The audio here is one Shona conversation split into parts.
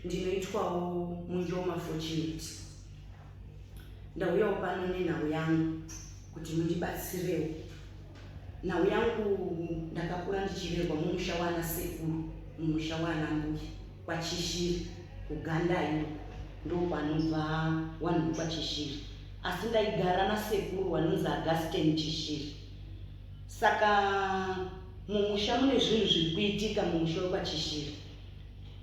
ndinoitwawo munjoma fortunate ndauyawo pano nenhau yangu kuti mundibatsirewo nhau yangu ndakakura ndichirerwa mumusha waana sekuru mumusha waana mbuya kwaChishiri kuGandai uko ndokwanobva wanhu wekwaChishiri asi ndaigara nasekuru wanonzi Augustine Chishiri saka mumusha mune zvinhu zviri kuitika mumusha wekwaChishiri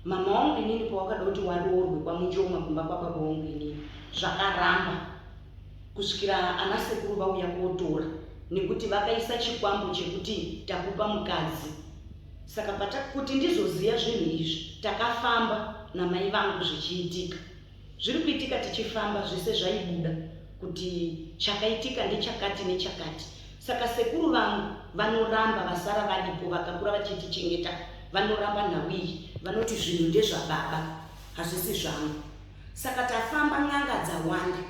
mama wangu inini pawakada kuti waroorwe kwaMuchoma kumba kwababa wangu inini zvakaramba kusvikira ana sekuru vauya kotora nekuti vakaisa chikwambo chekuti takupa mukadzi saka patakuti ndizoziva zvinhu izvi takafamba namai vangu zvichiitika zviri kuitika tichifamba zvese zvaibuda kuti chakaitika ndechakati nechakati saka sekuru vangu vanoramba vasara varipo vakakura vachitichengeta vanoramba nhau iyi vanoti zvinhu ndezvababa hazvisi zvangu Saka tafamba n'anga dzawanda.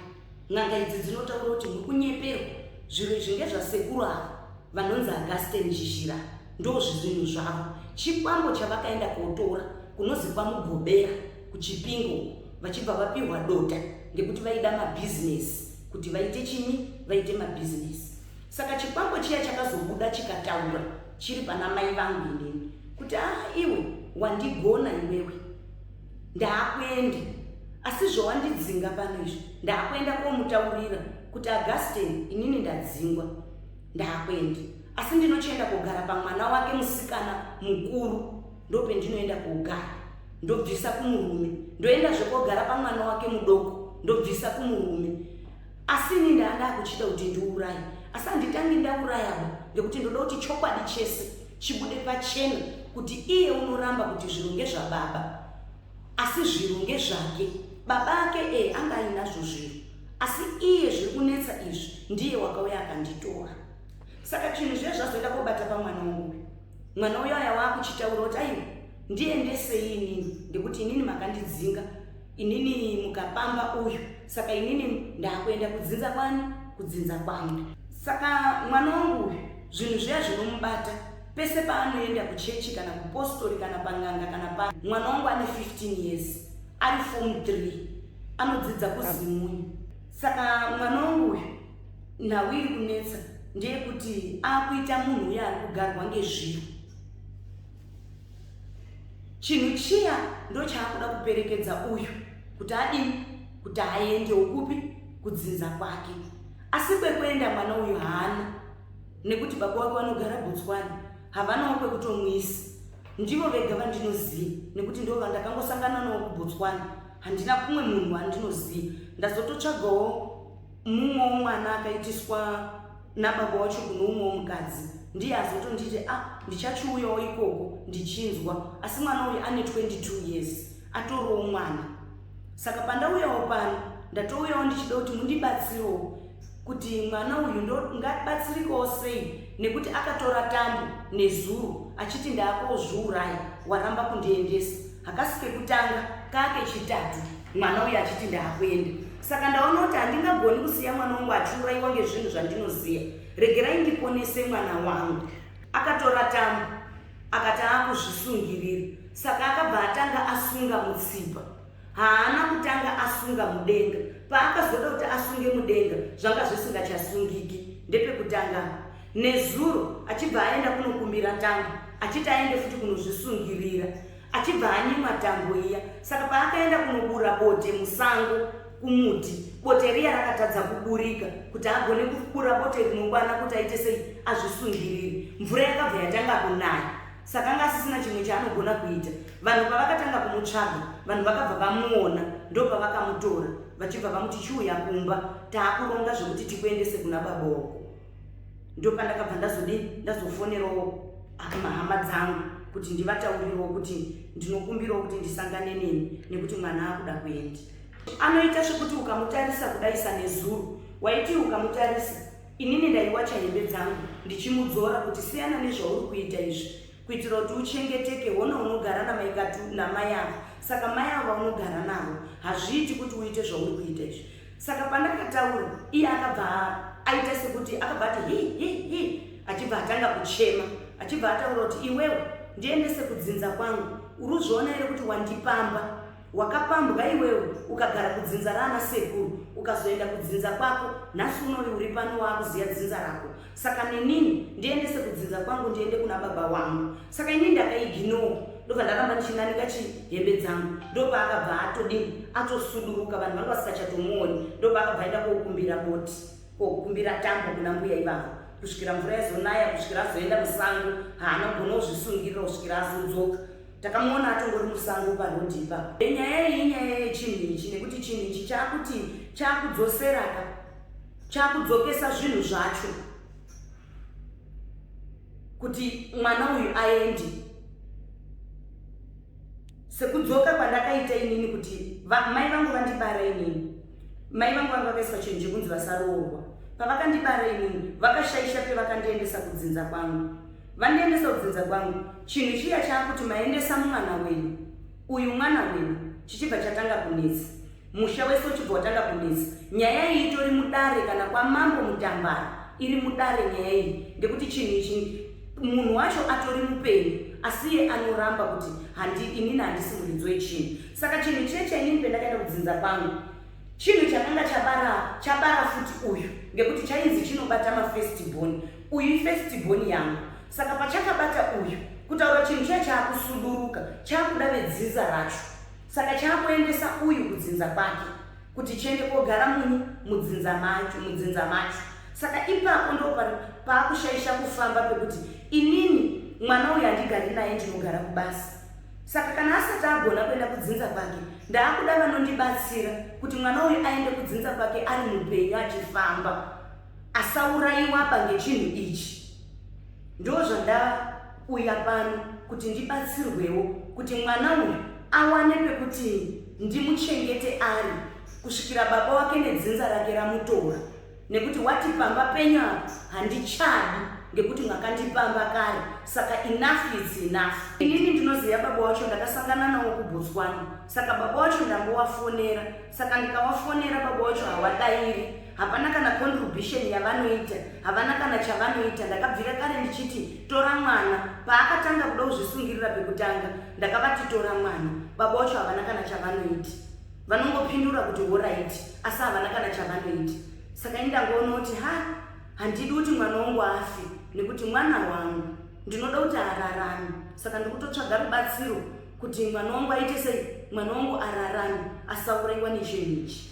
N'anga idzi dzinotaura kuti muri kunyeperwa. Zviro izvi ngezvasekuru ava vanonzi Augustine Chizhira. Ndozvizinhu zvavo. Chikwambo chavakaenda kotora kunozi kwaMugobera kuChipinge uko vachibva vapihwa dota ngekuti vaida mabhizinesi kuti vaite chini vaite mabhizinesi. Saka chikwambo chiya chakazobuda chikataura chiri pana mai vangu inini kuti haa iwe wandigona iwewe. ndaakuenda asi zvowandidzinga pano izvo ndaakuenda komutaurira kuti augustin inini ndadzingwa ndaakuenda asi ndinochienda kogara pamwana wake musikana mukuru ndopendinoenda kogara ndobvisa kumurume ndoenda zvekogara pamwana wake mudoko ndobvisa kumurume asi ini ndaada kuchida kuti ndiuraye asi handitangi ndaurayaba ngekuti ndoda kuti chokwadi chese Chibude pachena kuti iye unoramba kuti zvinhu ngezvababa asi zvinhu ngezvake. Baba ake ee anga ainazvo zvinhu asi iye zviri kunetsa izvi ndiye wakauya akanditora. Saka chinhu zviya zvazoenda kobata pamwana wangu uyu. Mwana uyo aya waakuchitaura kuti aiwa ndiendesei inini ngekuti inini makandidzinga inini mukapamba uyu saka inini ndakuenda kudzinza kwani kudzinza kwangu saka mwana wangu uyu zvinhu zviya zvinomubata pese paanoenda kuchechi kana kupostori kana panganga kana pa mwana wangu ane 15 years ari fom 3 anodzidza kuzimunyu saka mwana wangu uyu nhau iri kunetsa ndeyekuti akuita munhu uye ari kugarwa ngezviro chinhu chiya ndochaakuda kuperekedza uyu kuti adini kuti aendewo kupi kudzinza kwake asi kwekuenda mwana uyu haana nekuti baba wake vanogara botswana havanawo kwekutomwisa ndivo vega vandinoziva nekuti ndo vandakangosangana nawo kubotswana handina kumwe munhu wandinoziva ndazototsvagawo mumwe womwana akaitiswa nababa wacho kune umwe womukadzi ndiye azotonditi a ah, ndichachiuyawo ikoko ndichinzwa asi mwana uyu ane 22 years atorowo mwana saka pandauyawo pano ndatouyawo ndichida kuti mundibatsirewo kuti mwana uyu ndongabatsirikawo sei nekuti akatora tambo nezuro achiti ndaakozviurai waramba kundiendesa hakasi kekutanga kake chitatu mwana uyu achiti ndaakuenda saka ndaona kuti handingagoni kusiya mwana wangu achiuraiwa ngezvinhu zvandinoziva regerai ndiponese mwana wangu akatora tambo akati aakuzvisungirira saka akabva atanga asunga mutsipa haana kutanga asunga mudenga paakazoda kuti asunge mudenga zvanga zvisingachasungiki ndepekutanga nezuro achibva aenda kunokumbira tambo achiti aende futi kunozvisungirira achibva anyimwa tambo iya saka paakaenda kunobura bote musango kumuti bote riya rakatadza kuburika kuti agone kubura bote rinokwana kuti aite sei azvisungirire mvura yakabva yatanga kunaya saka anga asisina chimwe chaanogona kuita vanhu pavakatanga kumutsvaga vanhu vakabva vamuona ndopavakamutora vachibva vamuti chiuya kumba taakuronga zvekuti tikuendese kuna baba wako ndopandakabva ndazodii ndazofonerawo hama dzangu kuti ndivataurirewo kuti ndinokumbirawo kuti ndisangane neni nekuti mwana akuda kuendi anoita zvekuti ukamutarisa kudaisa nezuru waiti ukamutarisa inini ndaiwacha hembe dzangu ndichimudzora kuti siyana nezvauri kuita izvi kuitira kuti uchengeteke hona unogara namaikatu namai avo saka mai avo unogara navo hazviiti kuti uite zvauri kuita izvi saka pandakataura iye akabva aita sekuti akabva ati hi hi hi achibva atanga kuchema achibva ataura kuti iwewe ndiendese kudzinza kwangu uri uzviona here kuti wandipamba wakapambwa iwewe ukagara kudzinza raana sekuru ukazoenda kudzinza kwako nhasi unoi uri pano waakuziva dzinza rako saka nenini ndiendese kudzinza kwangu ndiende kuna baba wangu saka ini ndakaiginoo ndobva ndaramba ndichinanika chihembe dzangu ndobva akabva atodii atosuduruka vanhu vanga vasikachatomuoni ndobva akabva aenda kokumbira boti kokumbira tambo kuna mbuya ivavo kusvikira mvura yazonaya kusvikira azoenda musango haana kugona kuzvisungirira kusvikira azodzoka takamuona atongori musango parodhi ipa enyaya iyi inyaya yechinhu ichi nekuti chinhu ichi chaakuti chaakudzosera ka chakudzokesa zvinhu zvacho kuti mwana uyu aende sekudzoka kwandakaita inini kuti mai vangu vandibara inini mai vangu vanga vakaiswa chinhu chekunzi vasaroorwa pavakandibara inini vakashaisha pevakandiendesa kudzinza kwangu vandiendesa kudzinza kwangu chinhu chiya chaakuti maendesa mumwana wenyu uyu mwana wenyu chichibva chatanga kunetsa Musha wese uchibva watanga kunetsa. Nyaya iyi itori mudare kana kwamambo Mutambara iri mudare nyaya iyi ngekuti chinhu ichi munhu wacho atori mupenyu asi iye anoramba kuti handi inini handisi muridzi wechinhu. Saka chinhu chiye chainini pendakaenda kudzinza kwangu chinhu chakanga chabara chabara futi uyu ngekuti chainzi chinobata mafestiboni uyu ifestiboni yangu saka pachakabata uyu kutaura chinhu chiya chaakusuduruka chaakuda vedzinza racho Saka chaakuendesa uyu kudzinza kwake kuti chiende kogara munyu mudzinza macho mudzinza macho saka ipapo ndo paakushaisha kufamba pekuti inini mwana uyu handigari naye ndinogara kubasa saka kana asati agona kuenda kudzinza kwake ndaakuda vanondibatsira kuti mwana uyu aende kudzinza kwake ari mupenyu achifamba asaurayiwaba ngechinhu ichi Ndozvandauya pano kuti ndibatsirwewo kuti mwana uyu awane pekuti ndimuchengete ari kusvikira baba wake nedzinza rake ramutora nekuti wati pamba penyu apo handichadi ngekuti makandipamba kare saka enough is enough inini ndinoziva baba wacho ndakasangana nawo kubotswana saka baba wacho ndangowafonera saka ndikawafonera baba wacho hawadairi hapana kana contribution yavanoita havana kana chavanoita ndakabvira kare ndichiti tora mwana paakatanga kuda kuzvisungirira pekutanga ndakavati tora mwana baba wacho havana kana chavanoiti vanongopindura kuti horaiti asi havana kana chavanoiti saka ini ndangoona kuti ha handidi kuti mwana wangu afi nekuti mwana wangu ndinoda kuti ararame saka ndikutotsvaga rubatsiro kuti mwana wangu aite sei mwana wangu ararame asauraiwa nechinhu ichi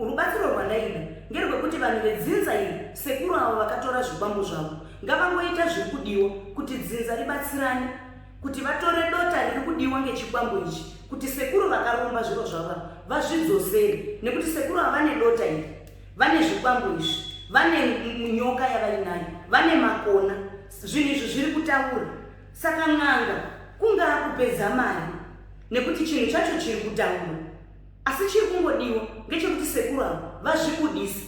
Rubatsiro rwandaida ngerwekuti vanhu vedzinza iri sekuru avo vakatora zvikwambo zvavo ngavangoita zviri kudiwa kuti dzinza ribatsirane kuti vatore dota riri kudiwa ngechikwambo ichi kuti sekuru vakaromba zviro zvavo vazvidzosere nekuti sekuru ava vane dota iri vane zvikwambo izvi vane nyoka yavainayo vane makona zvinhu izvi zviri kutaura saka n'anga kungaa kupedza mari nekuti chinhu chacho chiri kutaura asi chiri kungodiwa ngechekuti sekuru avo vazvibudise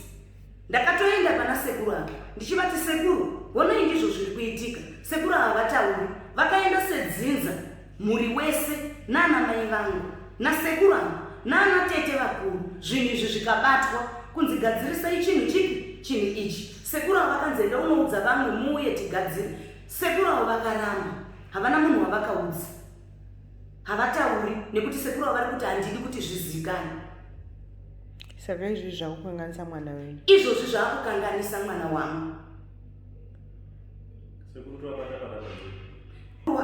ndakatoenda pana sekuru avo ndichivati sekuru honai ndizvo zviri kuitika sekuru ava vatauri vakaenda sedzinza mhuri wese naana mai vangu nasekuru avo naana tete vakuru zvinhu izvi zvikabatwa kunzi gadzirisai chinhu chipi chinhu ichi sekuru avo vakanzi enda unoudza vamwe muuye tigadzire sekuru avo vakaramba havana munhu wavakaudza havatauri nekuti sekuru avari kuti handidi kuti zvizivikane saka izvozvi zvakukanganisa mwana wenyu izvozvi zvakukanganisa mwana wangu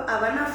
havana